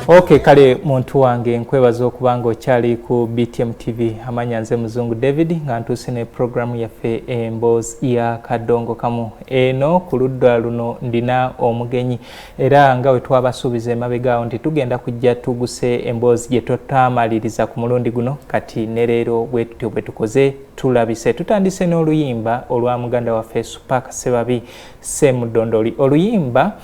ok kale muntu wange nkwebaza okuba nga okyali ku btm tv amanya nze muzungu david nga ntuuse ne puroguramu yaffe emboozi ya kadongo kamu eno ku ludda luno ndina omugenyi era nga wetwabasuubiza emabegaawo nti tugenda kujja tuguse emboozi gye totaamaliriza ku mulundi guno kati ne leero bwe tutyo bwe tukoze tulabise tutandise n'oluyimba olwa muganda waffe supak sebabi semudondoli oluyimba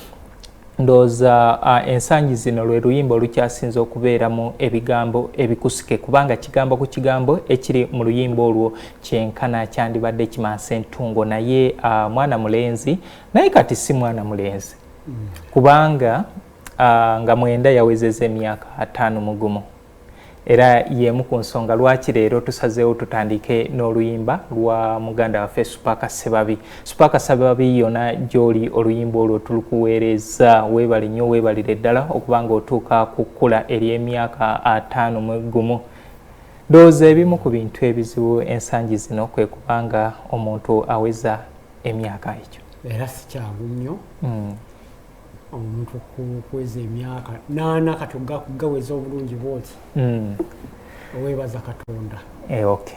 ndowooza uh, ensangi zino lwe luyimba olukyasinze okubeeramu ebigambo ebikusike kubanga kigambo ku kigambo ekiri mu luyimba olwo kyenkana kyandibadde kimansa entungo naye uh, mwana mulenzi naye kati si mwana mulenzi mm. kubanga uh, nga mwenda yawezeza emyaka ataano mugumu Era y'emu ku nsonga lwaki leero tusazeewo tutandiike n'oluyimba lwa muganda waffe Supaaka Ssebabi. Supaaka Ssebabi yona gy'oli oluyimba olwo tulukuweereza weebale nnyo weebalire ddala okuba ng'otuuka ku kkula ery'emyaka ataano mu gumu. Ndowooza ebimu ku bintu ebizibu ensangi zino kwe kubanga omuntu aweza emyaka ekyo. Era si kyangu nnyo. Mm. omuntu okuweza emyaka naana kati gaweza obulungi bwoti hmm. owebaza katonda eh, ok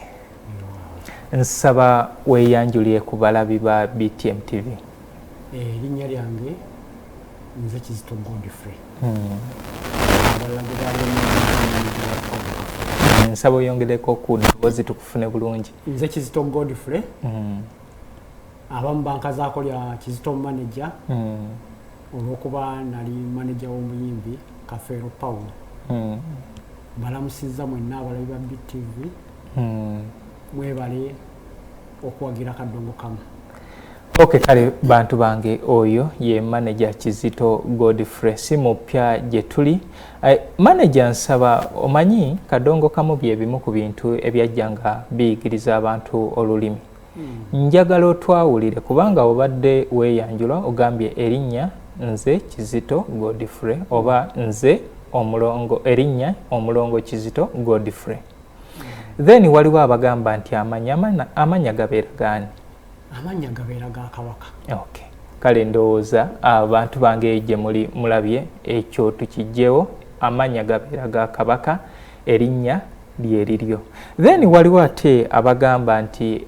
nsaba weyanjulire ku balabi ba btm tv eh, erinnya lyange nze kizito godfrey hmm. nsaba oyongereko ku ddoboozi tukufune bulungi nze kizito godfrey hmm. abamu bankazaako lya kizito manaja hmm. olwokuba nali manaja w'omuyimbi kafeero paul hmm. balamusizza mwenna abalabi ba btv hmm. mwebale okuwagira kadongo kamu ok kale bantu bange oyo ye manaja kizito godfrey si mupya gye tuli eh, manaja nsaba omanyi kadongo kamu bye bimu ku bintu ebyajja nga biyigiriza abantu olulimi njagala otwawulire kubanga obadde weeyanjula ogambye erinnya nze kizito godfrey oba nze omulongo erinnya omulongo kizito godfrey then waliwo abagamba nti amanya gabeera gaani amanya gabeera ga kabaka okay. kale ndowooza abantu bange eyo gye muli mulabye ekyo tukijjewo amanya gabeera ga kabaka erinnya lyeriryo then waliwo ate abagamba nti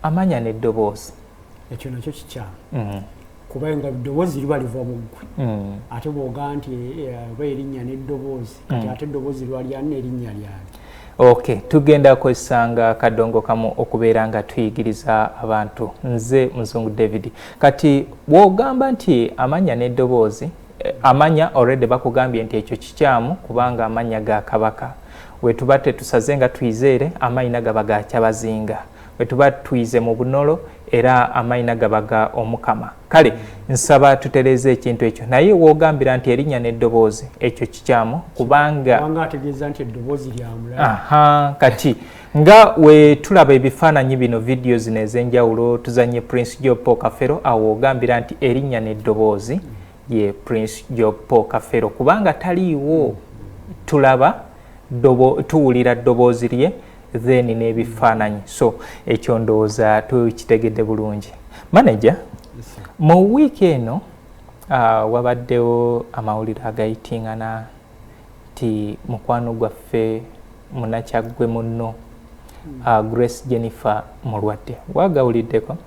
amanya neddoboozi ekyo nakyo kikyamu mm. kubanga eddoboozi liba liva muggwe mm. ate bwoga nti eh, oba erinnya neddoboozi kati mm. ate eddoboozi lwalyani nerinnya lyani ok tugenda kwesanga kadongo kamu okubeera nga tuyigiriza abantu nze muzungu david kati bwogamba nti amanya neddoboozi amanya already bakugambye nti ekyo kikyamu kubanga amanya ga kabaka wetuba tetusaze nga tuizeere amayina gaba ga kyabazinga wetuba tuize mu bunolo era amayina gaba ga omukama kale nsaba tutereeza ekintu ekyo naye wogambira nti erinnya n'eddoboozi ekyo kikyamu kubanga kati nga wetulaba ebifaananyi bino vidiyo zino ez'enjawulo tuzanye prince job paul kafero awo ogambira nti erinnya n'eddoboozi ye prince job paul kafero kubanga taliiwo tulaba tuwulira ddoboozi lye then n'ebifaananyi so ekyo ndowooza tukitegedde bulungi manaja mu wiiki eno uh, wabaddewo amawulire agayitingana nti mukwano gwaffe munakyaggwe munno hmm. ah, grace jennifer mulwadde wagawuliddeko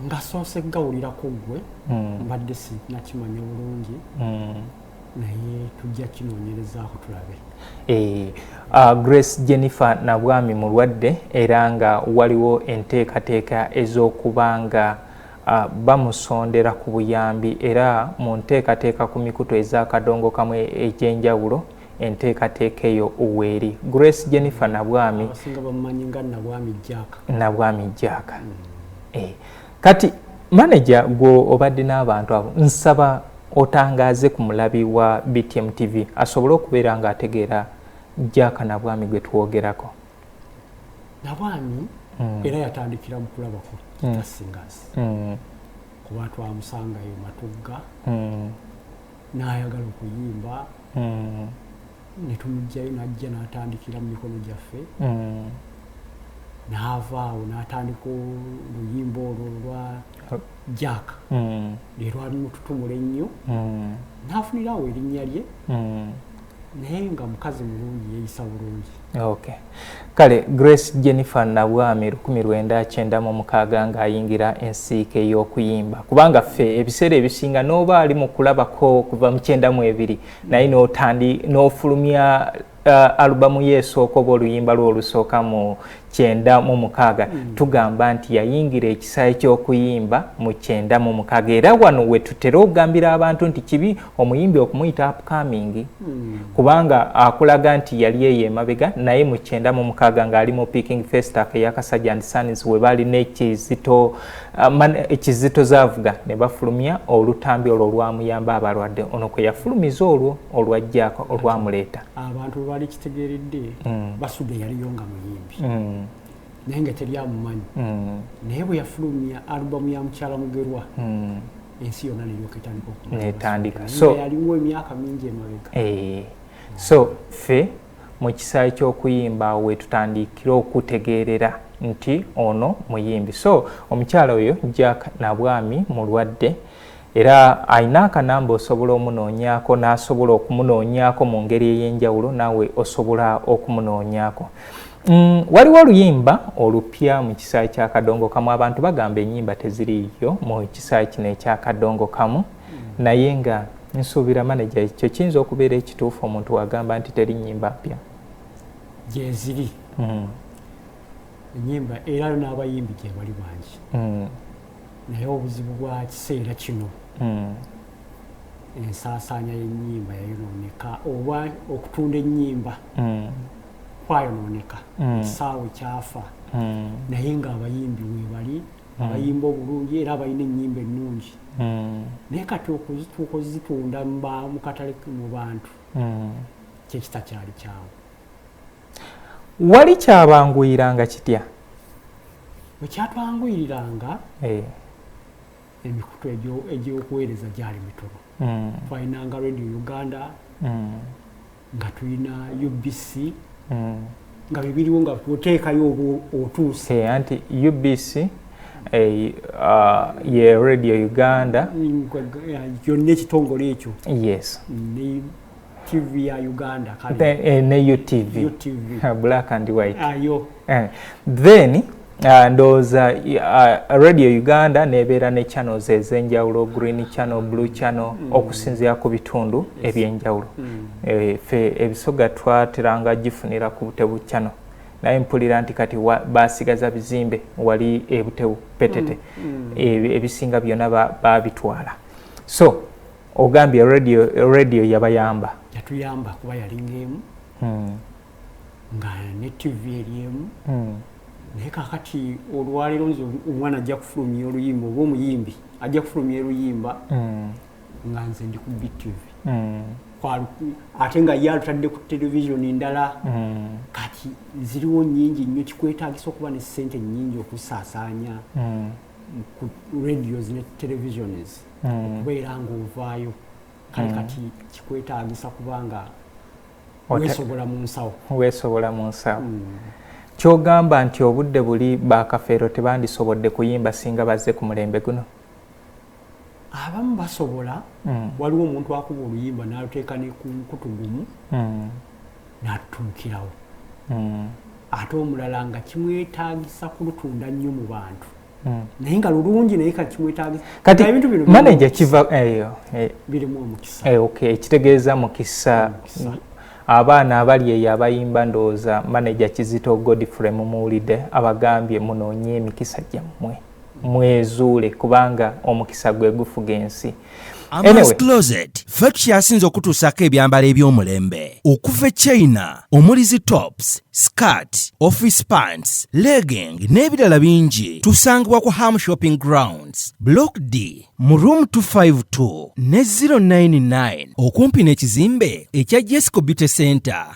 nga soose gawulirako gwe hmm. mbadde sinakimanya bulungi hmm. naye tujja kinoonyerezaako tulabe eh, ah, grace jennifer nabwami mulwadde era nga waliwo enteekateeka ez'okuba nga bamusondera ku buyambi era mu nteekateeka ku mikutu ezakadongokamu egy'enjawulo enteekateeka eyo weeri grace jennifer nabwami nabwami jjaaka hmm. eh, kati maneja gwe obadde n'abantu abo nsaba otangaaze ku mulabi wa btm tv asobole okubeera ng'ategeera jjaaka nabwami gwe twogerako nabaami mm. era yatandikira mu kulaba ku mm. tasingas mm. kuba twamusangayo matugga mm. nayagala okuyimba mm. netumugjayo najja natandikira mu mikono gyaffe mm. naavaawo natandika oluyimba olwo lwa jack mm. lwelwalimututumula ennyo mm. nafunirawo erinnya lye mm. naye nga mukazi mulungi yeyisa bulungi okay. kale grace jennifer nabwami lukumi lwenda kyenda mu mukaaga ng'ayingira ensiike y'okuyimba kubanga ffe ebiseera ebisinga n'oba ali mu kulabako okuva mu kyenda mu ebiri naye n'otandi n'ofulumya uh, alubamu ye esooka oba oluyimba lwo olusooka mu kyenda mu mukaaga mm. tugamba nti yayingira ekisaayi ky'okuyimba mu kyenda mu mukaaga era wano we tutera okugambira abantu nti kibi omuyimbi okumuyita upcoming mm. kubanga akulaga nti yali eyo emabega naye mu kyenda mu mukaaga ng'ali mu picking festac eyakasajja and sons we baali n'ekizito uh, ekizito zaavuga ne bafulumya olutambi olwo olwamuyamba abalwadde ono kwe yafulumiza olwo olwajjaako olwamuleeta abantu bali kitegeredde mm. basuga yaliyo nga muyimbi mm. naye nga teri amumanyi mm. naye bwe yafulumya alubamu ya mukyala mugerwa ensi yona neyoketandikaetandikayaliwo emyaka mingi emabega eh. so fe mu kisaayi ky'okuyimba awo wetutandikira okutegeerera nti ono muyimbi so omukyala oyo jack nabwami mulwadde mm. Era alina akanamba osobola omunoonyaako n'asobola okumunoonyaako mu ngeri ey'enjawulo naawe osobola okumunoonyaako. Mm, waliwo oluyimba olupya mu kisaayi kya kadongo kamu abantu bagamba enyimba teziriiyo mu kisaayi kino ekya kadongo kamu mm. naye nga nsuubira maneja ekyo kiyinza okubeera ekituufu omuntu wagamba nti teri nyimba mpya gyeziri mm. enyimba era n'abayimbi gyebali bangi naye obuzibu bwa kiseera kino hmm. ensaasaanya y'ennyimba yayonooneka oba okutunda ennyimba hmm. kwayonooneka hmm. ekisaawe kyafa naye ng'abayimbi webali abayimba obulungi era abalina ennyimba ennungi naye kati okuzituuka ozitunda mu katale mu bantu kyekitakyali kyawo wali kyabanguyiranga kitya wekyatwanguyiriranga eh. emikutu egyokuweereza gyali mitono hmm. twalinanga radio uganda hmm. nga tulina ubc hmm. nga bibiriwo nga oteekayo otuuse eh, anti ubc eh, uh, ye radio uganda yonna ekitongole ekyo yes TV ya Uganda kale. Then eh, ne UTV. UTV. Uh, black and white. Ayo. Ah, eh. Then uh, ndoza uh, Radio Uganda nebera ne channels ezenjawulo green channel, blue channel mm. okusinzia ku bitundu yes. ebyenjawulo. Mm. Eh, fe ebisoga twateranga gifunira ku butebu channel. naye mpulira nti kati basigaza bizimbe wali ebutebu petete mm, mm. ebisinga byona babitwala so ogambye radio radio yabayamba yatuyamba kuba yalinga emu hmm. nga ne tv eri emu hmm. naye kakati olwaleero nze omwana ajja kufulumya oluyimba oba omuyimbi ajja kufulumya oluyimba hmm. nga nze ndi ku btv ate nga ye alutadde ku televisioni ndala kati ziriwo nyingi nnyo kikwetagisa okuba ne sente nyingi okusaasaanya ku radios ne televisions hmm. okubeera ng'ovaayo kale hmm. kati kikwetaagisa kubanga weesobola mu nsawo weesobola mu nsawo hmm. kyogamba nti obudde buli bakafeero tebandisobodde kuyimba singa bazze ku mulembe guno abamu basobola hmm. waliwo omuntu akuba oluyimba naluteeka nekunkutu gumu hmm. natuukirawo hmm. ate omulala nga kimwetagisa kulutunda nnyo mu bantu hmm. naye nga lulungi naye kati kimwetagisa kati ebintu bino manager kiva eyo eh, eh. birimu omukisa eh okay ekitegeeza mukisa abaana abali eyo abayimba ndowooza manaja kizito godfrey mumuwulidde abagambye munoonye emikisa gyammwe mwezuule kubanga omukisa gwe gufuga ensi amascloset fe tukyasinze okutuusaako ebyambalo eby'omulembe okuva e china omuli zi tops skat office pants legging n'ebirala bingi tusangibwa ku ham shopping grounds block d mu room 252 ne 099 okumpi n'ekizimbe ekya jesco beauty center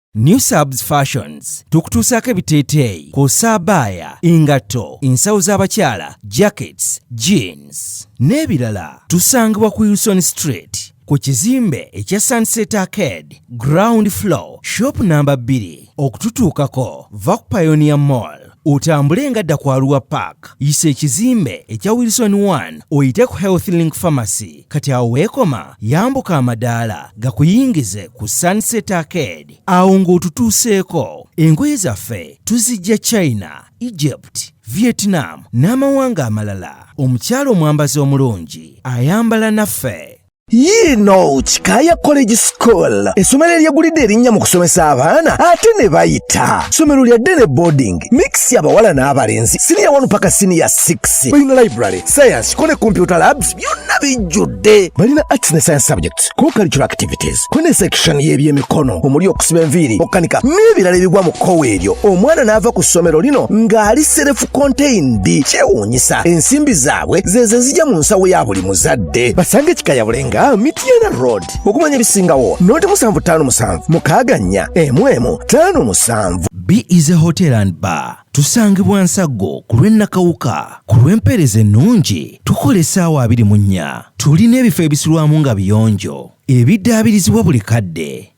New Subs Fashions tukutuusaako ebiteeteeyi ku saabaaya, engatto, ensawo z'abakyala, jackets, jeans n'ebirala. Tusangibwa ku Wilson Street ku kizimbe ekya Sunset Arcade ground floor shop namba 2. Okututuukako va ku Pioneer Mall. otambule nga dda kwaluwa park yisa ekizimbe ekya wilson 1 oyite ku health link pharmacy kati awo weekoma yambuka amadaala gakuyingize ku sunset arcade awo ng'otutuuseeko engoye zaffe tuzijja china egypt vietnam n'amawanga amalala omukyalo omwambazi omulungi ayambala naffe yiino kikaaya college school essomero eryegulidde erinnya mu kusomesa abaana ate ne bayita ssomero lya ddene boarding mix abawala n'abalenzi siniya 1 paka siniya 6 balina library science kone computer labs byonna bijjudde balina arts ne science subjects ko cultural activities kone section y'ebyemikono omuli okusiba enviiri okukanika n'ebirala ebigwa mu kkowa eryo omwana n'ava ku ssomero lino ng'ali serefu contained kyewuunyisa ensimbi zaabwe zeeze zijja mu nsawo ya buli muzadde babakutte basanga ekika ya bulenga mityana road okumanya ebisingawo noti musanvu ttaano musanvu mukaaga nnya emu emu ttaano musanvu b is a hotel and bar tusangibwa nsaggo ku lw'ennakawuka ku lw'empeereza ennungi tukola essaawa abiri mu nnya tulina ebifo ebisulwamu nga biyonjo ebiddaabirizibwa buli kadde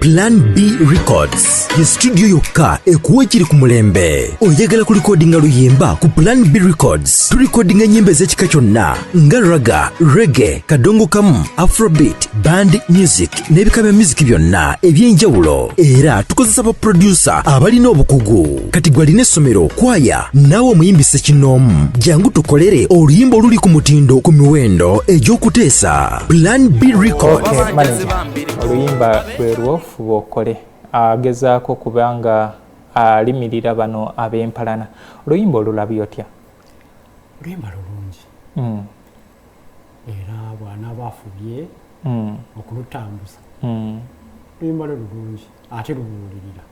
Plan B Records ye studio yokka ekuwa ekiri ku mulembe. Oyagala kulikodinga luyimba ku Plan B Records, tulikodinga ennyimba ez'ekika kyonna nga raga, rege, kadongo kamu, afrobeat, band music n'ebika bya music byonna eby'enjawulo. Era tukozesa baproducer abalina obukugu. Kati gwe alina essomero, kwaya, naawe omuyimbi ssekinnoomu, jangu tukolere oluyimba oluli ku mutindo ku miwendo egy'okuteesa. Plan B Records. Okay, oluyimba lwe lwofuba okole agezaako kubanga alimirira bano ab'empalana oluyimba olulabi otya oluyimba lulungi hmm. era bwanaaba afubye hmm. okulutambuza hmm. oluyimba lwe lulungi ate lubuulirira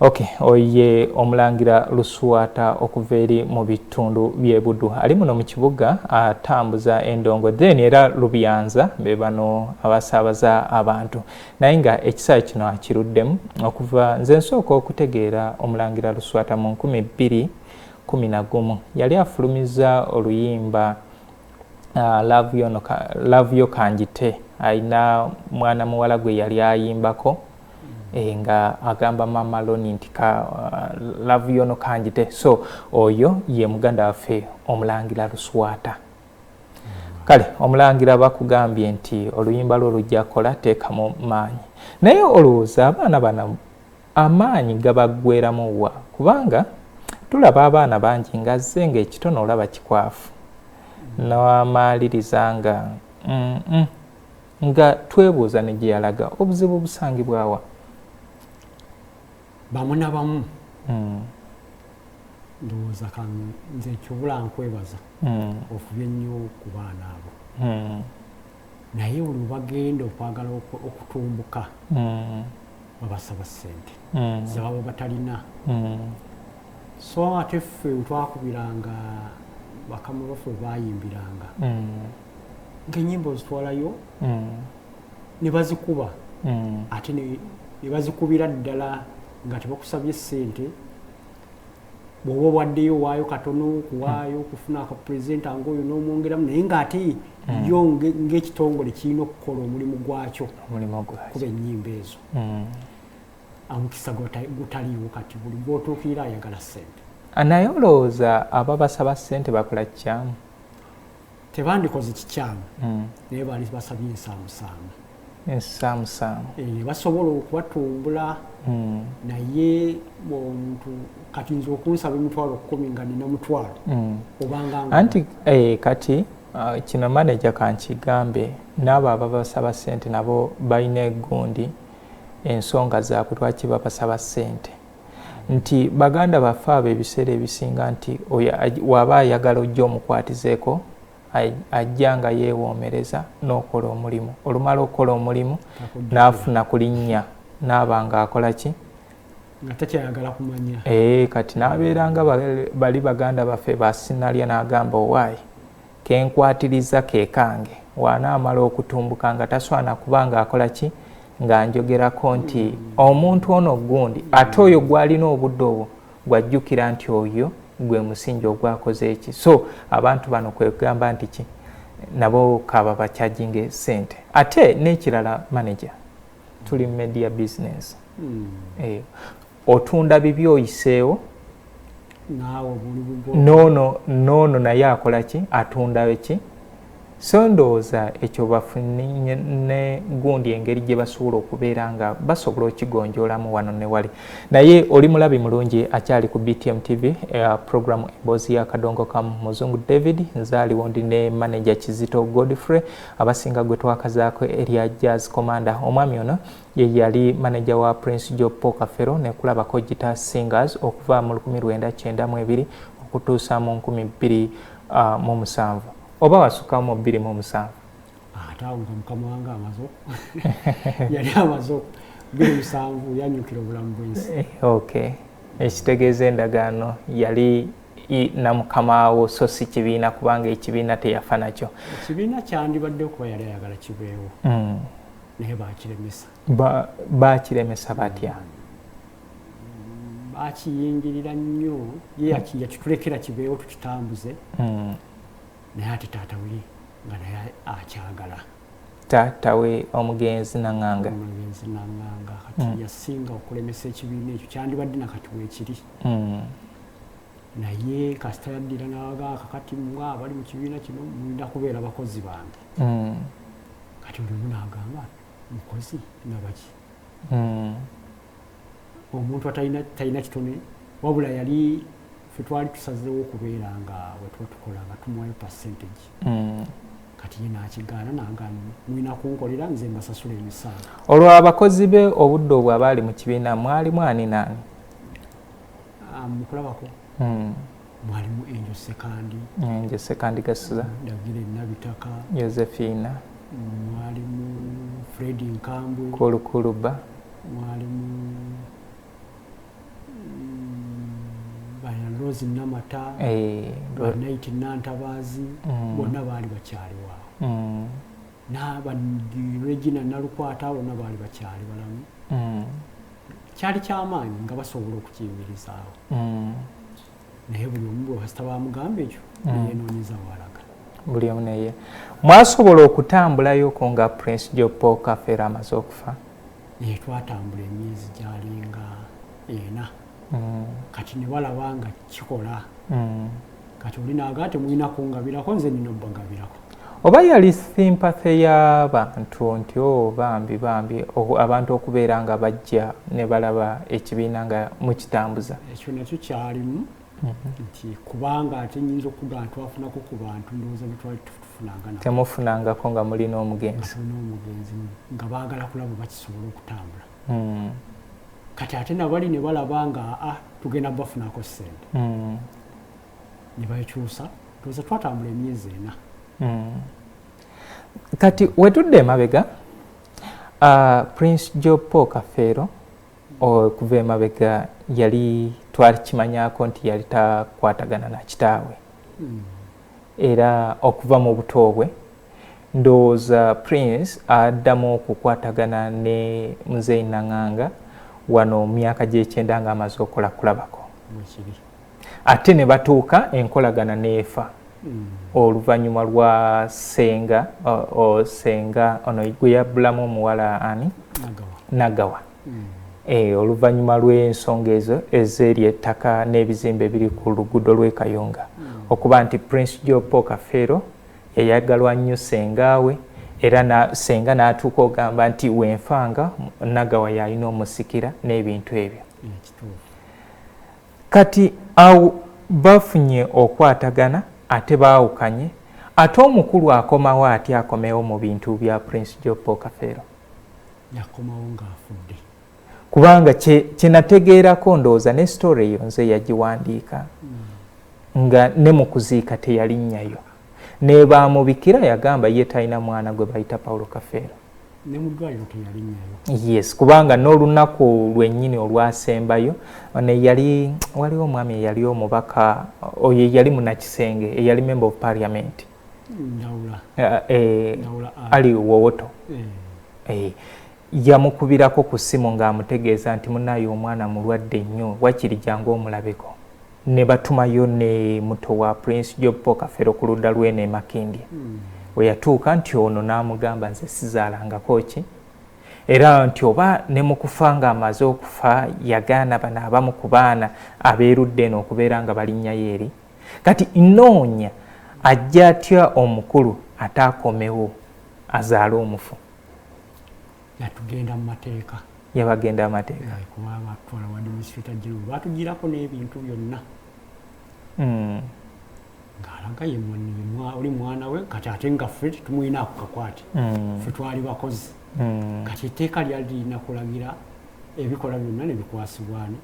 Ok, oye omulangira Luswata okuva eri mu bitundu bye Buddu ali muno mu kibuga atambuza endongo then era Lubyanza be bano abasaabaza abantu naye nga ekisaawe kino akiruddemu okuva nze nsooka okutegeera omulangira Luswata mu nkumi bbiri kumi na gumu yali afulumiza oluyimba Ah, love yo kanjite alina mwana muwala gwe yali ayimbako Eh, nga agamba mama loni nti ka uh, love yono kanjite so oyo ye muganda waffe omulangira luswata kale omulangira bakugambye nti oluyimba lwo lujja kola teekamu maanyi naye olowooza abaana bana amaanyi gabaggweramu wa kubanga tulaba abaana bangi ngazze ngaekitono olaba kikwafu nawamaaliriza nga mm -mm. nga twebuuza ne gye yalaga obuzibu busangibwawa bamu na bamu hmm. ndowooza kanze ekyobula nkwebaza hmm. ofubye nnyo ku baana abo hmm. naye olwo bagenda okwagala okutumbuka babasaba ssente zebaba batalina so ate ffe wetwakubiranga bakama baffe bayimbiranga nkenyimba ozitwalayo mm. nebazikuba mm. ate nebazikubira ddala nga tebakusabye sente bwoba obwaddeyo owaayo katono kuwaayo okufuna akapresenta ngaoyo nomwongeramu naye ngaate mm. yo ngaekitongole kirina okukola omulimu gwakyo kuba enyimba ezo amukisa gutaliiwo kati buli gwotuukirira ayagala sente naye olowooza ababasaba sente bakola kikyamu tebandikoze kikyamu hmm. naye bali basabye ensaamusaamu ensaamusaamu eh, ne basobola okubatumbula hmm. naye omuntu kati nze okunsaba emitwalo kumi nga nina mutwalo hmm. obanga anti eh, kati ah, kino maneja kankigambe naabo ababasaba sente nabo balina egundi ensonga zaabwe lwaki babasaba sente nti baganda baffe abo ebiseera ebisinga nti oyo waba ayagala ojja omukwatizeeko ajja nga yeewoomereza n'okola omulimu olumala okukola omulimu n'afuna ku linnya n'aba nga akola ki nga takyayagala kumanya ee eh, kati n'abeera nga bali baganda baffe basinalya n'agamba owaayi Kenkwatirizza ke kange. Bw'anaamala okutumbuka nga taswana kuba ng'akola ki? Ng'anjogerako nti omuntu ono gundi. Ate oyo gw'alina obudde obwo gw'ajjukira nti oyo gwe musingi ogwakoze eki? So abantu bano kwe kugamba nti ki? Nabo ka babakyajinge ssente. Ate n'ekirala maneja tuli mu media bizinensi. otunda bibi oyiseewo noono noono naye akola ki atunda ki so ndowooza ekyo bafunye ne gundi engeri gye basobola okubeera nga basobola okigonjoolamu wano ne wali naye oli mulabi mulungi akyali ku btm tv eh, program emboozi ya kadongo kamu muzungu david nzaaliwo ndi ne manaja kizito godfrey abasinga gwe twakazaako erya jazz commander omwami ono Ye yali maneja wa Prince Job Paul Kafero ne Kulaba Kojita Singers okuva mu lukumi lwenda kyenda mu ebiri okutuusa mu nkumi bbiri uh, mu musanvu oba wasukkawo mu bbiri mu omusanvu ate awo nga mukama wange amaze yali amaze bbiri musanvu yanyukira obulamu bwensi eh, ok ekitegeeza endagaano yali na mukama wo so si kibiina kubanga ekibiina teyafa nakyo ekibiina kyandibadde okuba yali ayagala kibeewo mm. naye bakiremesa bakiremesa batya bakiyingirira nnyo ye yakitulekera kibeewo tukitambuze hmm. naye ate taata we nga naye akyagala taata we omugenzi naŋanga omugenzi naŋanga kati hmm. yasinga okulemesa ekibiina ekyo kyandibadde nakati wekiri hmm. naye kasita yaddira nawaga kakati mwa abali mu kibiina kino mwinda kubeera bakozi bange kati buli omu nagamba mukozi nabaki hmm. omuntu atalina kitone wabula yali fetwali tusazewo okubeera nga wetuba tukola nga tumuwayo percentage hmm. kati ye nakigaana nangani mulina kunkolera nze mbasasula emisaala olwo abakozi be obudde obwo abaali mu kibiina mwalimu ani naani ah, mukulabako hmm. mwalimu enjo sekandi enjo sekandi gasiza dagire nabitaka yosephina mwalimu fred nkambwe kulukuluba mwalimu rose namata eh, nit nantabazi mm. bonna baali bakyaliwaawo mm. n'aba Regina Nalukwata bona baali bakyali balamu mm. kyali kyamaanyi nga basobola okukiyimirizaawo mm. naye buli omu bwebasita bamugamba ekyo mm. neyenoonyeza walaga buli omu neye mwasobola okutambulayoko nga prince jopo kafeera amaze okufa naye twatambula emyezi gyalinga ena kati ne balaba nga kikola kati oli naga temulina kungabirako nze nina obagabirako oba yali simpathe y'abantu nti o oh, bambi bambi abantu okubeera nga bajja ne balaba ekibiina nga mukitambuza ekyo nakyo kyalimu mhm. nti kubanga ate nyinza okuga ntwafunako ku bantu ndowooza betwali tufunangana temufunangako nga mulina omugenzi n'omugenzi nga baagala kulaba bakisobola okutambula hmm. kati ate nabali ne balaba nga a ah, tugenda bafunako sente hmm. ne bakyusa tuze twatambula emyezi ena hmm. kati wetudde emabega uh, prince joe paul kafeero okuva emabega yali twakimanyako nti yali takwatagana na kitaawe hmm. era okuva mu buto bwe ndowooza prince addamu okukwatagana ne muzeeyi nanganga wano myaka gyekyenda nga amaze okola kulabako ate ne batuuka enkolagana n'efa hmm. oluvannyuma lwa senga senga ono gwe yabbulamu omuwala ani nagawa hmm. eh, oluvannyuma lw'ensonga ezo ezeeri ettaka n'ebizimbe ebiri ku luguudo lw'e kayunga hmm. okuba nti prince jopo kafeero yayagalwa nnyo sengaawe era na senga n'atuuka ogamba nti wenfanga nagawa yalina omusikira n'ebintu ebyo Kati awo bafunye okwatagana ate baawukanye ate omukulu akomawo atya akomewo mu bintu bya Prince Joppo Kafeero? Yakomawo nga afudde. Kubanga kye kye nategeerako ndowooza ne story eyo nze yagiwandiika nga ne mu kuziika teyalinnyayo. nebamubikira yagamba ye talina mwana gwe bayita paulo kafeero yes kubanga n'olunaku lwennyini olwasembayo neyali waliwo omwami eyali omubaka oyo eyali munakisenge eyali member of parliament eh, eh, ali wowoto eh. yamukubirako ku ssimu ng'amutegeeza nti munaye omwana mulwadde nnyo wakiri jangu omulabeko Nebatumayo ne muto wa Prince Job Paul Kafero ku ludda lw'eno e Makindye weyatuuka nti ono n'amugamba nze sizaalangako ki era nti oba ne mu kufa ng'amaze okufa yagaana bano abamu ku baana abeerudde eno okubeera nga balinnyayo eri kati nnoonya ajja atya omukulu ataakomewo azaale omufu yatugenda mu mateeka yabagenda amateeka kuba batwala wa administrator general batugirako n'ebintu byonna hmm. ng'alaga oli mwana we kati ate nga ffe tumulina ku kakwate hmm. ffe twali bakozi hmm. kati etteeka lyali lirina kulagira ebikola byonna nebikwasibwani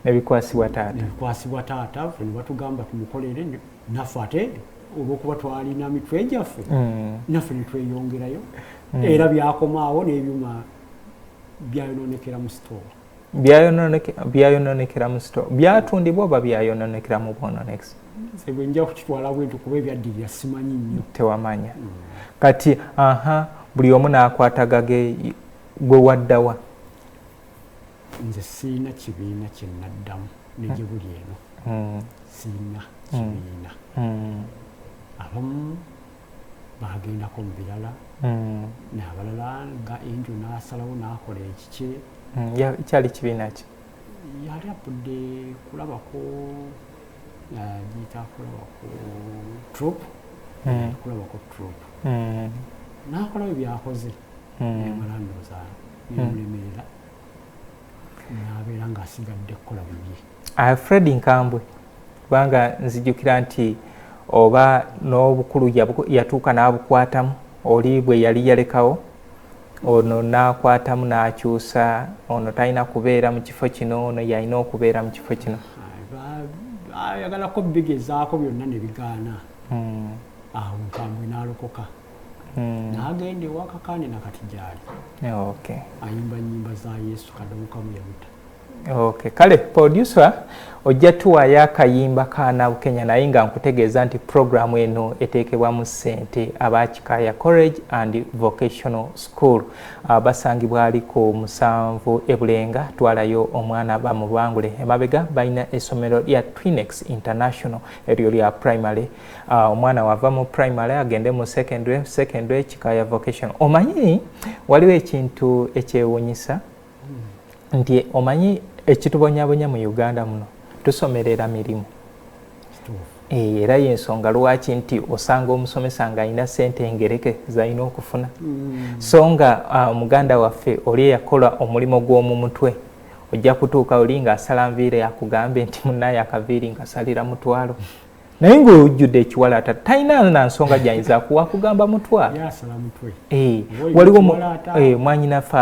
nebikwasibwa taata nebikwasibwa taata fe nebatugamba tumukolere naffe ate olwokuba twalina mitwe gyaffe mm. naffe netweyongerayo hmm. era byakomaawo n'ebyuma byayononekera mu sitoowa byayononekera mu sitoowa byatundibwa oba byayononekera mu bwononekisi sebwe nja kukitwala bwenti kuba ebyaddirira simanyi nnyo tewamanya hmm. kati aha buli omu n'akwatagage gwe waddawa nze siina kibiina kye naddamu negye buli eno hmm. siina kibiina abamu bagendako mu birala hmm. nabalala nga enjo nasalawo nakola ekikye hmm, kyali kibiina ki yali apudde kulabako yagiyita kulabako trop hmm. kulabako trop nakolabyo byakoze emala ndoza nemulemerera nabeera ngaasigadde kukola bibye ah, fred nkambwe kubanga nzijukira nti oba n'obukulu yatuuka n'abukwatamu oli bwe yali yalekawo ono n'akwatamu n'akyusa ono talina kubeera mu kifo kino ono yalina okubeera mu kifo kino ayagalako bigezaako byonna ne bigaana hmm. awo nkambwe n'alokoka hmm. n'agenda ewakakaane nakati gyali ayimba nyimba za yesu kadomukamu yabuta Okay, kale producer ojja tuwaayo akayimba ka nabukenya naye nga nkutegeeza nti puroguramu eno eteekebwamu ssente aba kikaaya college and vocational school ah, basangibwa ali ku musanvu ebulenga twalayo omwana bamubangule emabega balina essomero lya twinex international eryo lya primary ah, omwana wava mu primary agende mu secondary secondary kikaaya vocational omanyi waliwo ekintu ekyewunyisa nti omanyi ekitubonyabonya mu uganda muno tusomerera mirimu eh, era yensonga lwaki nti osanga omusomesa nga alina sente engereke zalina okufuna mm. so nga ah, omuganda uh, waffe oli eyakola omulimu gw'omu mutwe ojja kutuuka oli nga asala nviire akugambye nti munaye akaviiri ngasalira mutwalo naye ngaojjudde ekiwalaata talina na nsonga gyayinza kuwa kugamba mutwa eh, waliwo eh, mwanyinafe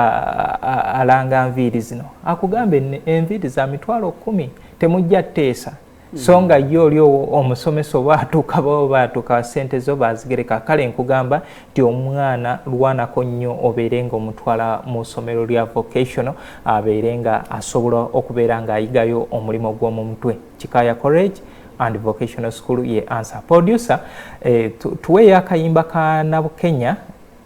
alanga nviiri zino akugamba enviiri za mitwalo kumi temujja teesa hmm. so nga ye oli omusomesa oba atuuka bao baatuuka sente zo bazigereka kale nkugamba nti omwana lwanako nnyo obeere nga omutwala mu somero lya vocational abeere nga asobola okubeera ng'ayigayo omulimu gw'omu mutwe kikaya corage and vocational school ye answer producer eh, tuweyo akayimba ka nabukenya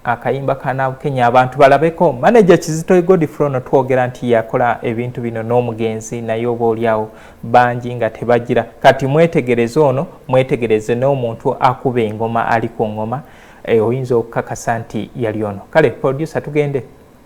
akayimba ka nabukenya abantu balabeko manager kizito godfrono twogera nti yakola ebintu bino n'omugenzi naye oba olyawo bangi nga tebagira kati mwetegereze ono mwetegereze n'omuntu akuba engoma ali ku ngoma eh, oyinza okukakasa nti yali ono kale producer tugende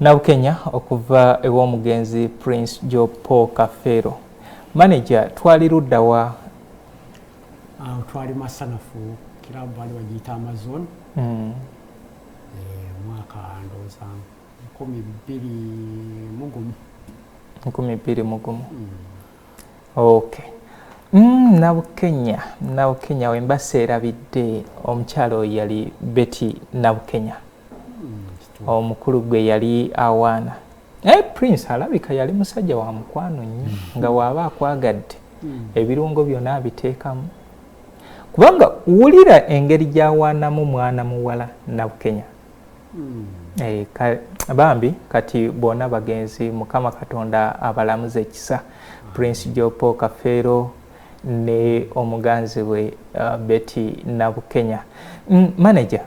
Nabukenya okuva ew'omugenzi Prince Joe Paul Kafeero. Maneja twali ludda wa? Awo twali Masanafu kiraabu baali bagiyita Amazon hmm. eh, mwaka ndowooza nkumi bbiri mugumu nkumi bbiri mugumu hmm. okay mm, nabukenya nabukenya wembase erabidde omukyalo oyo yali beti nabukenya mm, omukulu gwe yali awaana naye prince alabika yali musajja wa mukwano nnyo mm. nga waaba akwagadde mm. ebirungo byona abiteekamu kubanga wulira engeri gyawaanamu mwana muwala nabukenya Hmm. Eh, bambi kati bona bagenzi mukama katonda abalamuze ekisa hmm. prince jopo kafeero ne omuganzi we uh, beti nabukenya mm, manager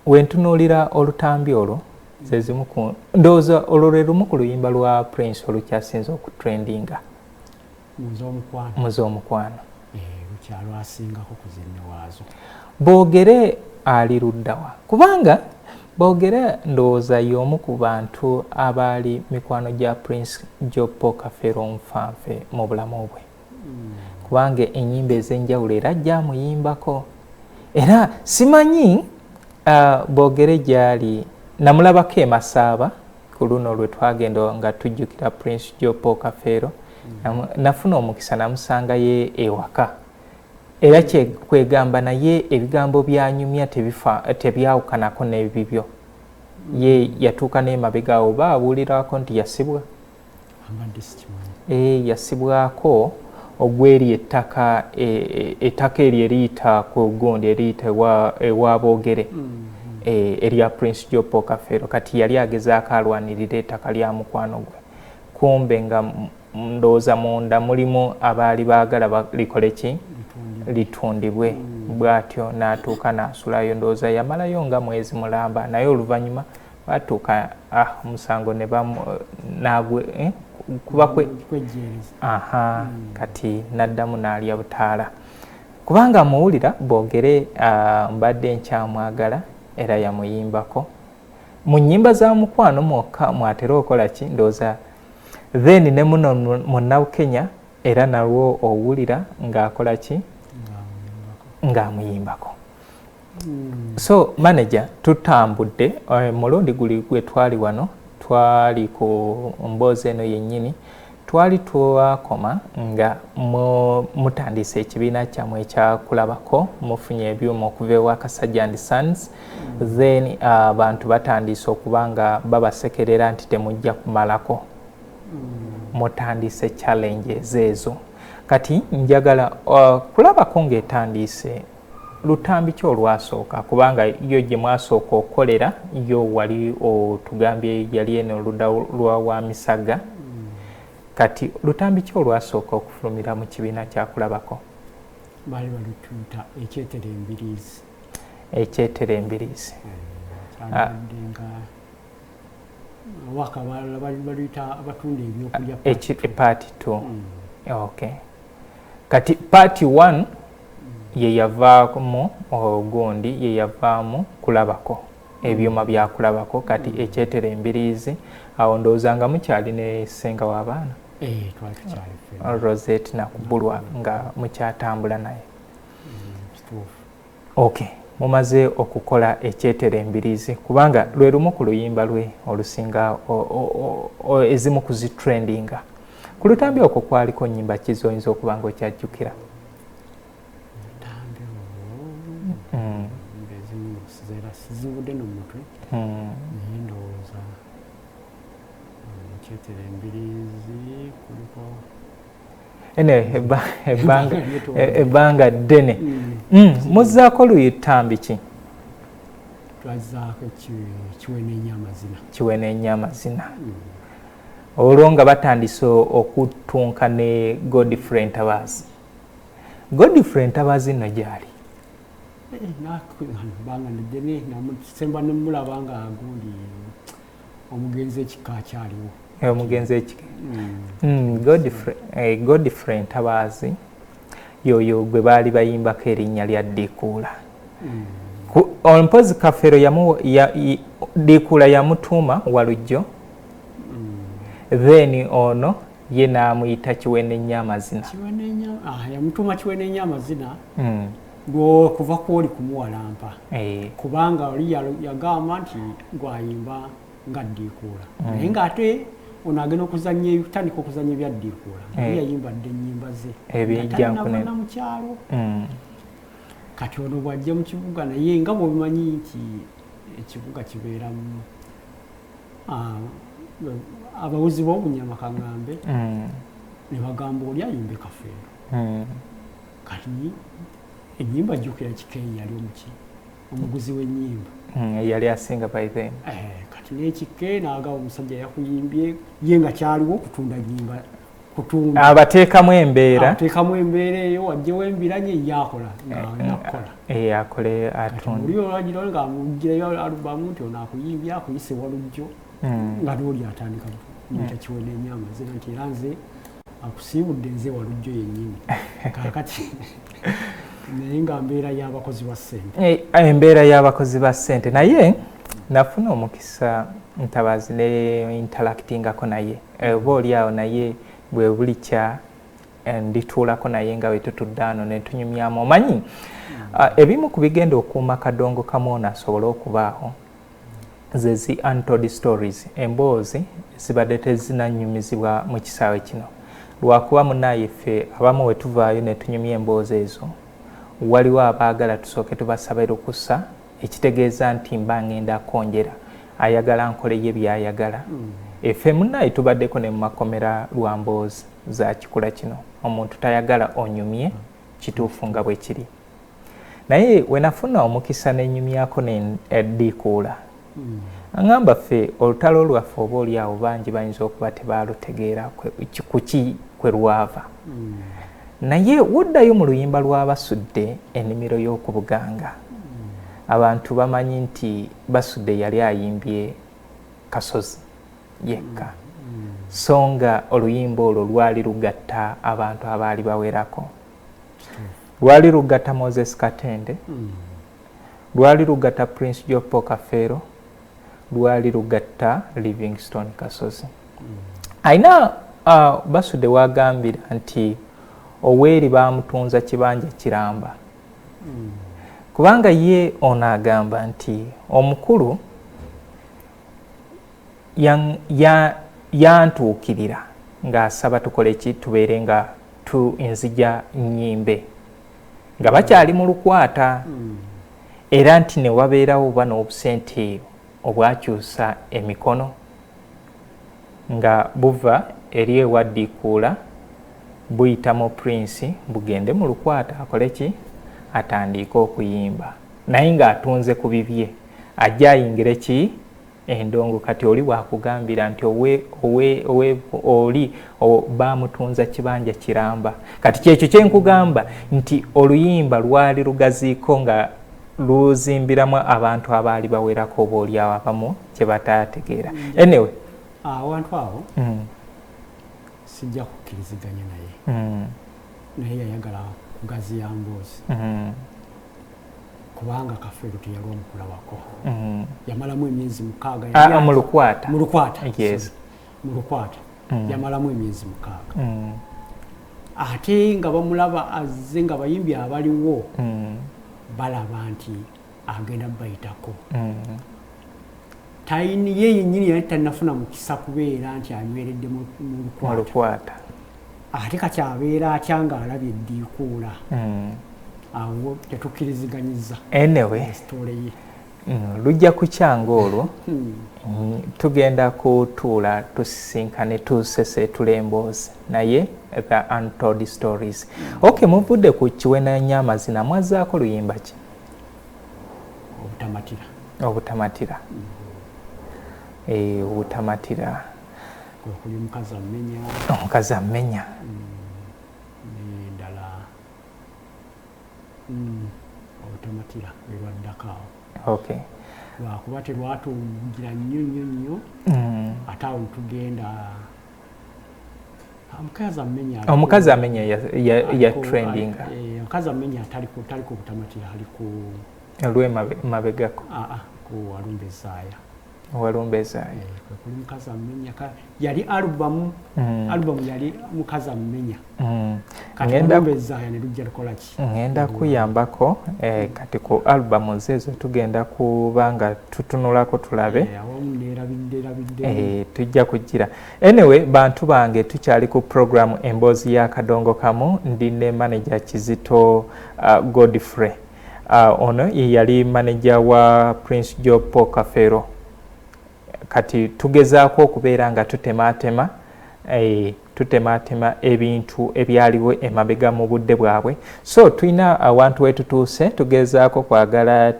wentunuulira olutambi olwo zezimu ku ndowooza olwo lwe lumu ku luyimba lwa prince olukyasinze okutrendinga mu z'omukwano boogere ali luddawa kubanga boogere ndowooza y'omu ku bantu abaali mikwano gya prince jopo kafero nfanfe mu bulamu bwe hmm. kubanga enyimba ez'enjawulo era gyamuyimbako era simanyi uh, boogere gyali namulabako emasaaba ku luno lwe twagenda nga tujjukira prince jo paul kafeero mm. nafuna omukisa namusanga ye ewaka era kyekwegamba naye ebigambo byanyumya tebyawukanako nebibyo ye yatuuka nemabega awo baawulirako nti yasibwa eh, yasibwako ogweri ettaka e, e, ettaka eryo eriyita ku gundi eriyita ewa boogere mm-hmm. eh, erya prince jopo kafeero kati yali agezaako alwanirira ettaka lya mukwano gwe kumbe nga ndowooza munda mulimu abaali baagala likole ki litundibwe mm. bwatyo n'atuuka n'asulayo ndowooza yamalayo nga mwezi mulamba naye oluvannyuma batuuka ah, omusango ne nagwe eh, kuba kwejjeereza aha hmm. kati naddamu naalya butaala kubanga amuwulira boogere ah, mbadde nkyamwagala era yamuyimbako mu nyimba za mukwano mwokka mwatera okola ki ndooza then ne muno munnabukenya era nalwo owulira ng'akola ki ng'amuyimbako Hmm. So manager tutambudde eh, mulundi guli gwe twali wano twali ku mboozi eno yennyini twali twakoma nga mutandise ekibiina kyamwe ekyakulabako mufunye ebyuma okuva ewa kasajja and sons then abantu uh, batandise okuba nga babasekerera nti temujja kumalako hmm. mutandise challenges ezo kati njagala uh, kulabako ng'etandiise lutambi ki olwasooka kubanga yo gye mwasooka okukolera yo wali otugambye yali eno oluda lwa wa misaga mm. kati lutambi ki olwasooka okufulumira mu kibiina kyakulabako baali balituuta ekyetera embiriizi ekyetera embiriizi mm. ah. abatunda ebyokulya epaati t mm. ok kati paati one ye yavaamu ogundi ye yavaamu kulabako ebyuma byakulabako kati mm. ekyetera embiriizi awo ndowooza nga mukyali ne senga w'abaana eh, rosette nakubulwa nga mukyatambula naye mm, ok mumaze okukola ekyetera embiriizi kubanga lwe lumu ku luyimba lwe olusinga ezimu kuzitrendinga ku lutambi okwo kwaliko nyimba ki zoyinza okuba nga okyajjukira sizivudde no mutwe hmm. naye ndowooza nkyetera hmm, embirizi kuliko ene ebbanga ddene hmm. muzzaako luyi ttambi ki twazaako kiwenenya amazina kiwenenya amazina Olwo nga batandise okuttunka ne Godfrey Ntabaazi. Godfrey Ntabaazi nno gyali? Eh, banga nedene namusemba nemulaba nga agundi omugenzi ekika akyaliwo eh, omugenzi ekika hmm. hmm, eh, godfrey ntabaazi yoyo gwe baali bayimbako erinnya lya dikuula hmm. mpozi kafero dikuula yamutuuma walujjo then ono ye n'amuyita kiwenenya amazina ah, yamutuma kiwenenya amazina hmm. lwokuva kwoli kumuwalampa eh. kubanga oli yagamba nti gwayimba nga ddiikuula hmm. naye ng'ate ono agenda okuzanya tandika okuzanya ebyaddiikuula naye eh. yayimba dde ennyimba ze ebyejjankunana mu kyalo hmm. kati ono bw'ajja mu kibuga naye nga bwebimanyi nti ekibuga kibeeramu ah, abawuzi b'obunyama kagambe mm. ne bagamba oli ayimba ekafeero mm. kati enyimba jjukira kikeyi yali omuki omuguzi w'enyimba mm, yali asinga by then eh, kati n'ekike naagaba omusajja yakuyimbye ye nga kyaliwo okutunda nyimba kutunda abateekamu embeera abateekamu embeera eyo wajjewo embiranye yakola ngakukola eh, eh, eh, akole atunda oli olwagirawo nga amugirayo alubamu nti ono akuyimbye akuyise walujjo hmm. nga nooli atandika mutakiwe hmm. nenyama zira nti era nze akusiibudde nze walujjo yennyini kakati naye nga mbeera y'abakozi ba ssente embeera y'abakozi ba ssente naye nafuna omukisa ntabazi ne interactingako naye mm. Oba oli awo naye bwe bulikya eh, ndituulako naye nga bwe tutudde ano ne tunyumyamu. Omanyi ah, ebimu ku bigenda okuuma kadongo kamu ono asobole okubaawo ze zi untold stories, emboozi ezibadde tezinanyumizibwa mu kisaawe kino. Lwakuba munaaye ffe abamu we tuvaayo ne tunyumya emboozi ezo, waliwo abaagala tusooke tubasabe lukusa ekitegeeza nti mba ngenda konjera ayagala nkole ye byayagala mm. efe munaye tubaddeko ne mumakomera lwa mboozi za kikula kino omuntu tayagala onyumye kituufu nga bwe kiri naye wenafuna omukisa nenyumyako nediikuula eh, mm. angamba ffe olutalo lwaffe oba oli awo bangi bayinza okuba tebalutegeera kuki kwe lwava mm. Naye woddayo mu luyimba lwa Basudde enimiro y'oku Buganga, abantu bamanyi nti Basudde yali ayimbye Kasozi yekka, so nga oluyimba olwo lwali lugatta abantu abaali bawerako. Lwali lugatta Moses Katende, lwali lugatta Prince Jopo Kafeero, lwali lugatta livingstone kasozi alina uh, basude wagambira nti oweeri bamutunza kibanja kiramba mm. kubanga ye ono agamba nti omukulu yantuukirira ya, ya ng'asaba tukole ki tubeere nga tu nzija nyimbe nga bakyali mu lukwata hmm. era nti ne wabeerawo oba n'obusente obwakyusa emikono nga buva eri ewaddiikuula buyita mu prince bugende mu lukwata akole ki atandiike okuyimba naye ng'atunze ku bibye ajja ayingire ki endongo kati oli wakugambira nti owe, owe, owe, oli bamutunza kibanja kiramba kati kyekyo kyenkugamba nti oluyimba lwali lugaziiko nga luzimbiramu abantu abaali bawerako oba oliawo abamu kyebatategeera mm. anyway awantu awo mm. sijja kukkiriziganya naye mm. naye yayagala kugaziya mboozi kubanga kafeero teyalwa mukulawako mm-hmm. yamalamu emyezi mukaaga ah, ah, mulukwata mulukwata mm-hmm. yamalamu emyezi mukaaga mm-hmm. ate nga bamulaba azze nga bayimbi abaliwo balaba nti agenda bayitako tayini ye yenyini yali tanafuna mukisa kubeera nti anyweredde mulukwata ate kati abeera atya nga alabye eddiikuula hmm. awo tetukkiriziganyiza enewestoole ye hmm, lujja kukyanga olwo hmm. tugenda kutuula tusisinkane tuseseetula emboozi naye the untold stories ok muvudde ku kiwenanya amazina mwazaako luyimba ki obutamatira obutamatira eh, obutamatira okuli mukazi amenya omukazi amenya nendala mm, mm, obutematira erwaddako awo okay lwakuba terwatugira nnyo nnyo nnyo mm. ate awo tugenda omukazi amenya ya trending eh, omukazi amenya tali ku butamatira ali ku lwemabegako ku walumbe zaaya owalumbezayi kwekuli mukazi amumenya yali alubamu mm. alubamu yali mukazi amumenya mm. katilumbezaya nelujja lukolaki ngenda mm. kuyambako eh, kati ku alubamu zezo tugenda kuba nga tutunulako tulabe eh, eh, tujja kujjira anyway bantu bange tukyali ku programu emboozi ya kadongo kamu ndi ne manaja kizito uh, godfrey Uh, ono ye yali maneja wa Prince Job Paul Kafeero. Kati tugezaako okubeera nga tutemaatema eh, tutemaatema ebintu ebyaliwo emabega mu budde bwabwe so tulina awantu wetutuuse tugezaako kwagala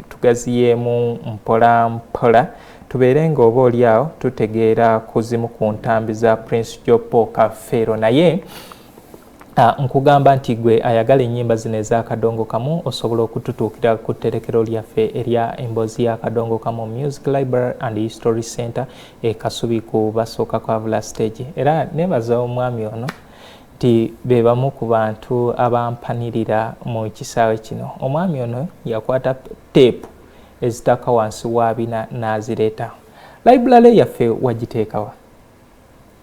tugaziyeemu mpola mpola tubeere nga oba oli awo tutegeera ku zimu ku ntambi za prince jopo kafeero naye Ah, nkugamba nti gwe ayagala enyimba zino ezakadongo kamu osobola okututuukira ku tterekero lyaffe erya emboozi ya kadongo kamu music library and history center ekasubi ku basooka kwavula stage era nebaza omwami ono nti bebamu ku bantu abampanirira mu kisaawe kino omwami ono yakwata teepu ezitaka wansi wa bina n'azireeta library yaffe wagiteekawa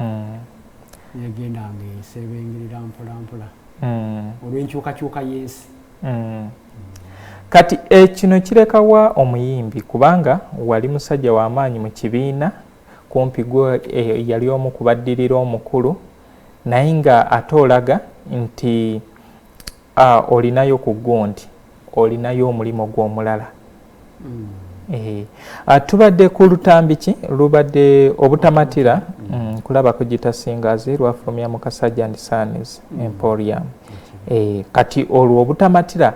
mm. negenda nga esebengerera mpolampola mm. olwenkyukakyuka yensi mm. kati ekino eh, kirekawa omuyimbi kubanga wali musajja wamaanyi mu kibiina kumpi gwe eh, yali omu kubaddirira omukulu naye nga ate olaga nti A, Olinayo ku gwo nti olinayo omulimu gwo omulala. Mm. Eh, ah, tubadde ku lutambi ki lubadde obutamatira mm. mm, kulaba kugita singazi lwafulumya mu kasajja and sons mm. emporium eh, kati olwo obutamatira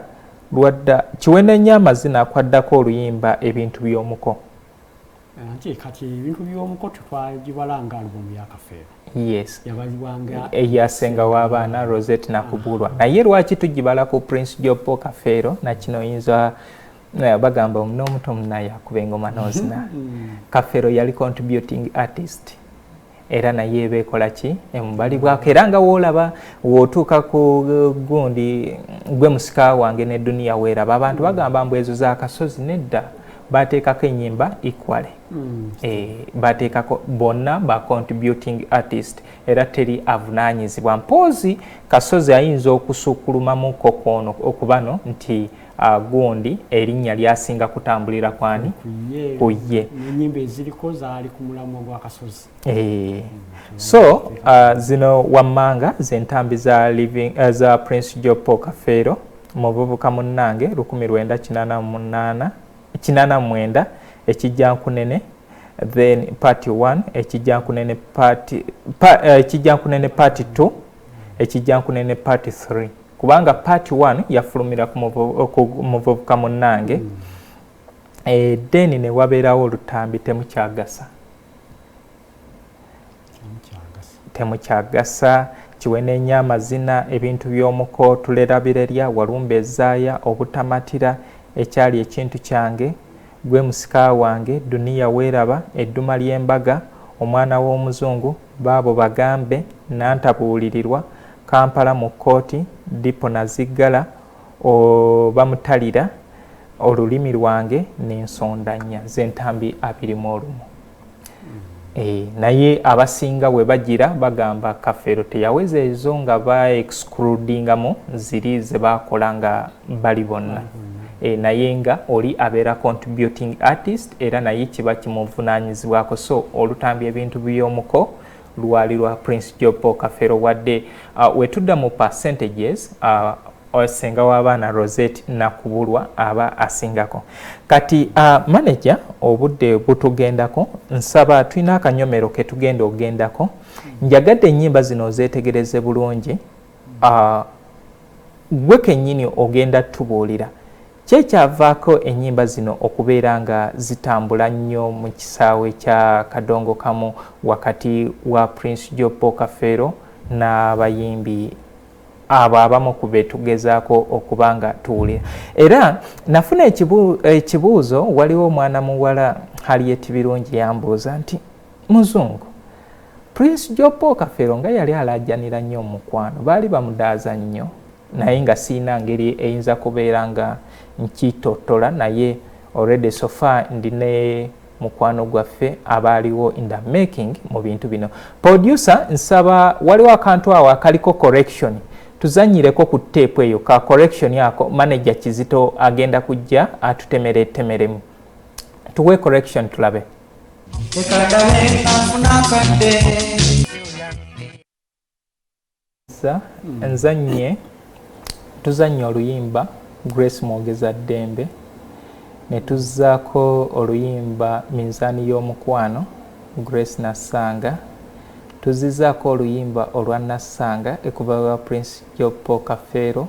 lwadda kiwenenya amazina akwaddako oluyimba ebintu by'omuko nti kati ebintu by'omuko tetwagibala nga alubumu ya kafeero yes yabazibwanga eyasenga w'abaana rosette nakubulwa ah. naye lwaki tugibala ku prince jopo kafeero nakino oyinza eh, bagamba n'omuto munaye akuba engoma nozina mm. kafeero yali contributing artist era naye eba ekola ki emubalibwako era nga woolaba wootuuka ku gundi gwe musika wange ne duniya weeraba abantu bagamba mbu ezo zakasozi nedda bateekako enyimba equally mm. e, bateekako bonna ba contributing artist era teri avunanyizibwa mpoozi kasozi ayinza okusukulumamukko kwono okubano nti mm. Ah, gundi erinnya lyasinga kutambulira kwani ku ye enyimba eziriko zaali ku mulamwa gwakasozi eh. so ah, zino wammanga zentambi za living eh, za prince jopo kafeero muvubuka munnange lukumi lwenda kinana munana kinana mwenda ekijja nkunene then part 1 ekijja nkunene part eh, ekijja nkunene part 2 ekijja nkunene part 3 kubanga part one yafulumira ku muvubuka munnange mm. eh, then ne wabeerawo olutambi temukyagasa temukyagasa kiwenenya amazina ebintu by'omuko tulera birerya walumba ezaaya obutamatira ekyali ekintu kyange gwe musika wange duniya weeraba edduma ly'embaga omwana w'omuzungu baabo bagambe nantabuulirirwa Kampala mu kkooti, Dipo Naziggala obamutalira olulimi lwange n'ensonda nnya z'entambi abiri mu olumu. Eh, naye abasinga we bagira bagamba kafeero teyaweza ezo nga ba excludingamu ziri ze bakola nga bali bonna e, naye nga oli abeera contributing artist era naye kiba kimuvunanyizibwako so olutambi ebintu by'omuko lwali lwa prince job paul kafero wadde uh, wetudda mu percentages uh, senga w'abaana roset nakubulwa aba asingako kati uh, manaja obudde butugendako nsaba tulina akanyomero ketugenda ogendako njagadde ennyimba zino ozetegereze bulungi Ggwe kennyini ogenda tubuulira ki ekyavaako ennyimba zino okubeera nga zitambula nnyo mu kisaawe kya Kadongokamu wakati wa Prince Joe Paul Kafeero n'abayimbi abo abamu ku be tugezaako okuba nga tuwulira. Era nafuna ekibuuzo, waliwo omwana muwala Harriet Birungi yambuuza nti. Muzungu. Prince Jopo Kafero nga yali alaajanira nnyo omukwano, baali bamudaaza nnyo naye nga sirina ngeri eyinza kubeera nga nkitottola naye already so far ndi ne mukwano gwaffe abaaliwo in the making mu bintu bino. Producer nsaba waliwo akantu awo akaliko correction tuzanyireko ku teepu eyo ka correction ako manager Kizito agenda kujja atutemeretemeremu. Tuwe correction tulabe. nzanye tuzanye oluyimba grace mwogeza ddembe netuzzaako oluyimba minzaani y'omukwano grace nassanga tuzzizaako oluyimba olwa nassanga ekuva wa prince jopo kafeero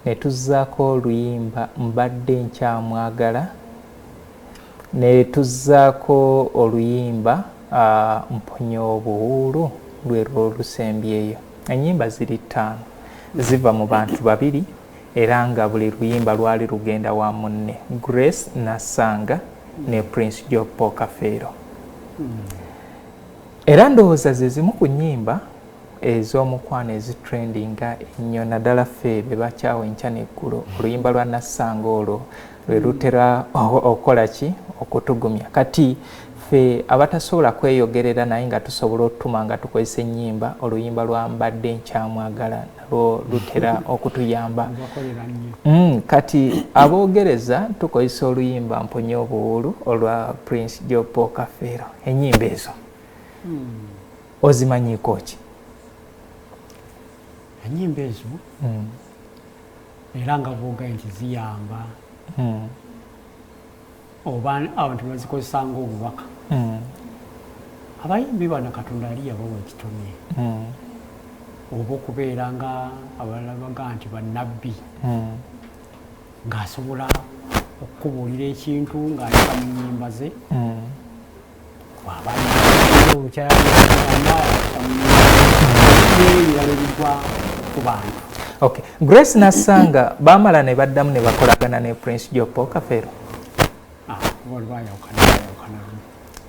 netuzzaako oluyimba mbadde nkyamwagala Ne tuzzaako oluyimba Mponya obuwuulu lwe lwo olusembyeyo. Ennyimba ziri ttaano. Ziva mu bantu babiri era nga buli luyimba lwali lugenda wa munne, Grace Nassanga ne Prince Job Paul Kafeero. Era ndowooza ze zimu ku nnyimba ez'omukwano ezitrendinga ennyo naddala ffe be bakyawa enkya n'eggulo. Oluyimba lwa Nassanga olwo. lwe lutera okukola ki okutugumya kati ffe abatasobola kweyogerera naye nga tusobola otutuma nga tukozesa ennyimba oluyimba lwa mbadde nkyamwagala nalwo lutera okutuyamba mm, kati aboogereza tukozesa oluyimba mponye obuwuulu olwa prince jopo kafeero ennyimba ezo hmm. ozimanyiiko ki ennyimba ezo hmm. era nga bwogaye nti ziyamba hmm. oba abantu bazikozesa ngaobubaka hmm. abayimbi bano katonda ali yabawa ekitone hmm. oba okubeera nga abalala baga nti banabbi ngaasobola okukubuulira ekintu ng'ayita mu nyimba ze Okay. Grace Nassanga bamala ne baddamu ne bakolagana ne Prince Jopo Kafero. Ah,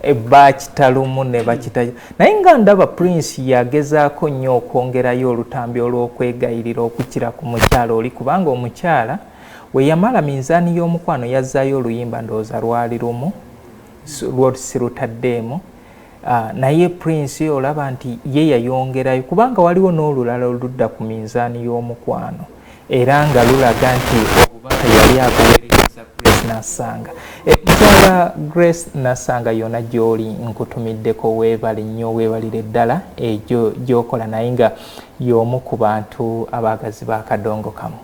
e bakita lumu ne bakita naye nga ndaba prince yagezaako nnyo okwongerayo olutambi olw'okwegayirira okukira ku mukyala oli kubanga omukyala we yamala minzaani y'omukwano yazzaayo oluyimba ndowooza lwali lumu lwo sirutaddeemu ah, naye prince olaba nti ye yayongerayo kubanga waliwo n'olulala oludda ku minzaani y'omukwano era nga lulaga nti obubaka yali abuweereza grace nasanga eh, mukyala grace nasanga yona gyoli nkutumiddeko weebale nnyo weebalire ddala egyo eh, gyokola naye nga y'omu ku bantu abaagazi bakadongo kamu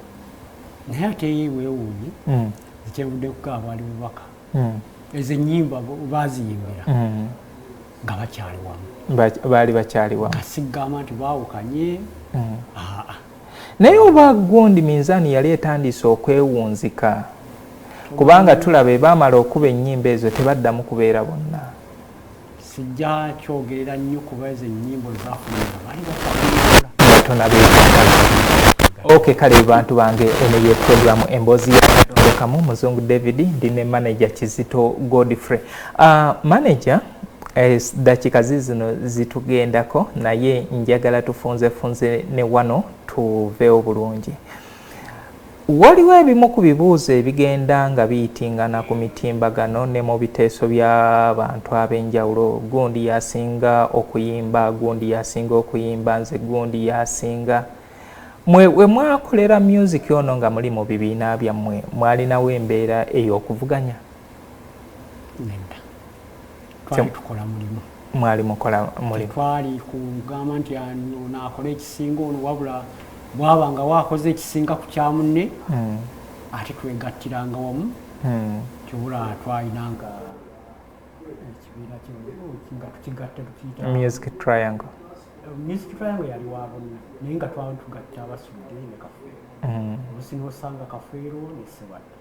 naye ate ye weewuunye hmm. ekyenvudde kukaaba ali bubaka mm. ezo enyimba baziyimbira mm. nga bakyali wamu baali bakyali wamu kasigamba nti baawukanye mm. aa naye oba gundi minzaani yali etandiise okwewunzika kubanga tulaba ebaamala okuba ennyimba ezo tebaddamu kubeera bonna sijja kyogerera nnyo kuba ezo ennyimbo zafunaaok kale bantu bange eno ye programu emboozi yakamu muzungu david ndi ne manaja kizito godfrey uh, ah, manaja eh, dakiika zizino zitugendako naye njagala tufunzefunze ne wano tuveewo bulungi Waliwo ebimu ku bibuuzo ebigenda nga biyitingana ku mitimbagano ne mu biteeso bya bantu ab'enjawulo, gundi y'asinga okuyimba, gundi y'asinga okuyimba, nze gundi y'asinga. Mwe we mwakolera myuziki ono nga muli mu bibiina byammwe mwalinawo embeera ey'okuvuganya? nedda twali tukola mulimu mwali mukola mulimu twali kugamba nti ono akole ekisinga ono wabula bwaba nga wakoze ekisinga ku kya munne hmm. ate twegattiranga wamu hmm. kibula twalinanga ekibiina nga tukigatta tukiyita music triangle music triangle yali wa bonna naye nga twali tugatta abasudde ne kafeero hmm. olusi nosanga kafeero ne sebadda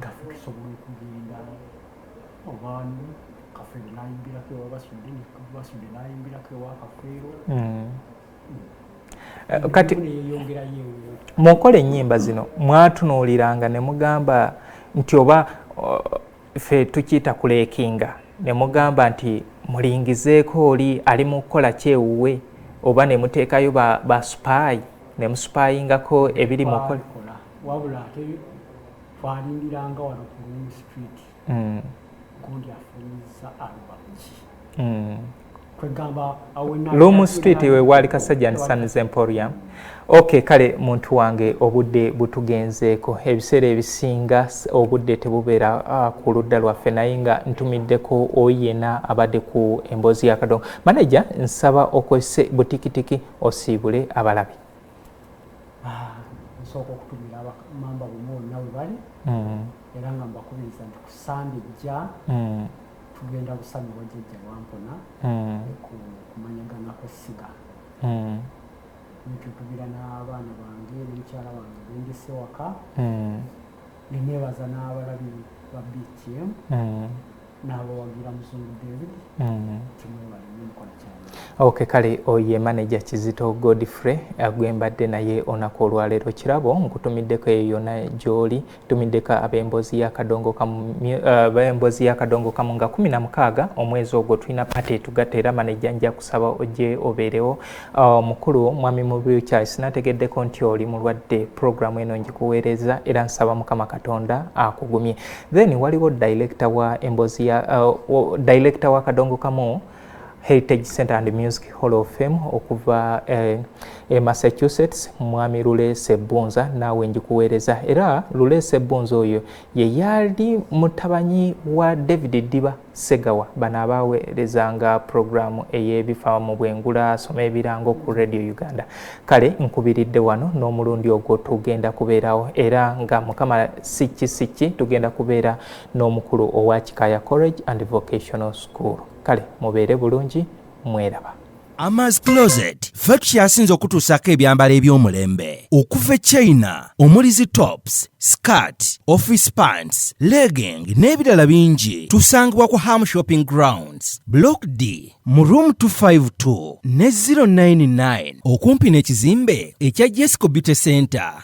gaffe tusobola okugenda obaani kafeero nayimbirako ewa basudde basudde nayimbirako ewa kafeero hmm. eh, kati mu nkola ennyimba zino mwatunuuliranga ne mugamba nti oba ffe tukiyita kuleekinga ne mugamba nti mulingizeeko oli ali mu kukola kyewuwe oba ne muteekayo ba, ba supaayi ne musupayingako ebiri mu kola wabula ate twalindiranga wano ku Green Street mm. gundi afunyiza alubamki mm. Loom Street we wali Kasajja and Sons Emporium. Okay, kale muntu wange obudde butugenzeeko ebiseera ebisinga obudde tebubeera uh, ku ludda lwaffe naye nga ntumiddeko oyena abadde ku emboozi ya kadongo. Maneja nsaba okozese butikitiki osiibule abalabi. nsooka ah, okutumira abamamba bonna bonna we bali mm. era nga mbakubiriza nti ku sande ejja mm. tugenda kusanyuwa jjajja wampona mm. kumanyagana kwessiga nitutubira n'abaana bange nemukyala wange bendese waka nenebaza n'abalabi ba btm n'abawagira muzungu david mm. tumwebale nyomukola kyalo ok kale oye manaja kizito godfrey eh, gwembadde naye onaku olwaleero kirabo nkutumiddeko eyo yona gyoli tumiddeko abembozi yakadongokamubembozi eh, yakadongo kamu nga kumi na mukaaga omwezi ogwo tulina pate tugatta era manaja nja kusaba oje obeerewo Oh, mukulu mwami mu wheelchair sinategeddeko nti oli mulwadde program eno njikuweereza era nsaba mukama katonda akugumye then waliwo director wa embozi ya uh, director wa kadongo kamu heritage center and music hall of fame okuva eh, e massachusetts mwami lule sebunza naawe njikuweereza era lule sebunza oyo ye yali mutabanyi wa david diba Ssegawa bano abaaweerezanga pulogulaamu ey'ebifa mu bwengula asoma ebirango ku Radio Uganda. Kale nkubiridde wano n'omulundi ogwo tugenda kubeerawo era nga mukama sikki sikki tugenda kubeera n'omukulu owa Kikaaya College and Vocational School. Kale mubeere bulungi mweraba. Amas Closet ffe tukyasinze okutuusaako ebyambalo eby'omulembe okuva e China omuli zi tops skirt office pants legging n'ebirala bingi tusangibwa ku ham shopping grounds block d mu room 252 ne 099 okumpi n'ekizimbe ekya jesco beauty center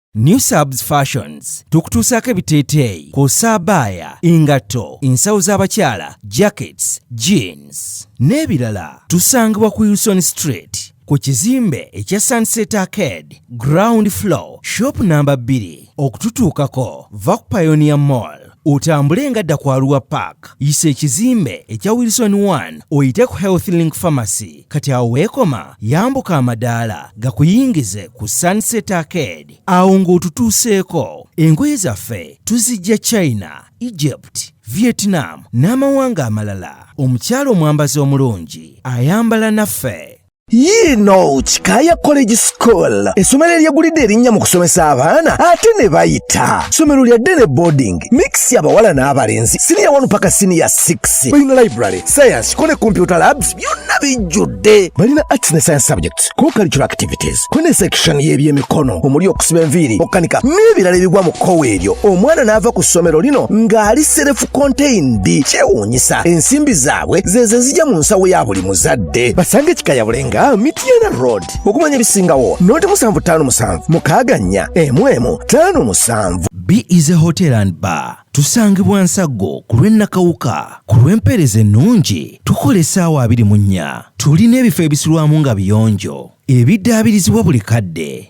New Subs Fashions tukutuusaako ebiteeteeyi kw'ossa abaaya, engatto, ensawo z'abakyala, jackets, jeans n'ebirala. Tusangibwa ku Wilson Street ku kizimbe ekya Sunset Arcade ground floor shop namba 2. Okututuukako va ku Pioneer Mall. otambule nga dda kwaluwa park yisa ekizimbe ekya wilson 1 oyite ku health link pharmacy kati awo weekoma yambuka amadaala gakuyingize ku sunset arcade awo ng'otutuuseeko engoye zaffe tuzijja china egypt vietnam n'amawanga amalala omukyalo omwambazi omulungi ayambala naffe yiino kikaya college school essomero eryegulidde erinnya mu kusomesa abaana ate ne bayita ssomero lya ddene boarding mix abawala n'abalenzi siniya 1 paka siniya 6 balina library science kone computer labs byonna bijjudde balina arts ne science subjects ko cultural activities kone section y'ebyemikono omuli okusiba enviiri okukanika n'ebirala ebigwa mu kkowa eryo omwana n'ava ku ssomero lino ng'ali serefu contained kyewuunyisa ensimbi zaabwe zeeze zijja mu nsawo ya buli muzadde bakutte basange ekikayabule nga mityana road okumanya ebisingawo noti musanvu ttaano musanvu mukaaga nnya emu emu ttaano musanvu b is a hotel and bar tusangibwa nsaggo ku lw'ennakawuka ku lw'empeereza ennungi tukola essaawa abiri mu nnya tulina ebifo ebisulwamu nga biyonjo ebiddaabirizibwa buli kadde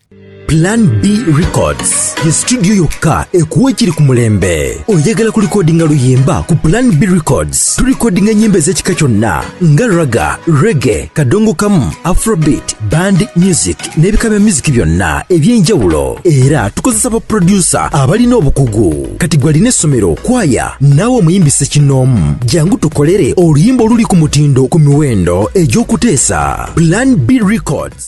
Plan B Records ye studio yokka ekuwa ekiri ku mulembe. Oyagala kulikodinga luyimba ku Plan B Records, tulikodinga ennyimba ez'ekika kyonna nga raga, rege, kadongo kamu, afrobeat, band music n'ebika bya music byonna eby'enjawulo. Era tukozesa baproducer abalina obukugu. Kati gwe alina essomero, kwaya, naawe omuyimbi ssekinnoomu, jangu tukolere oluyimba oluli ku mutindo ku miwendo egy'okuteesa. Plan B Records.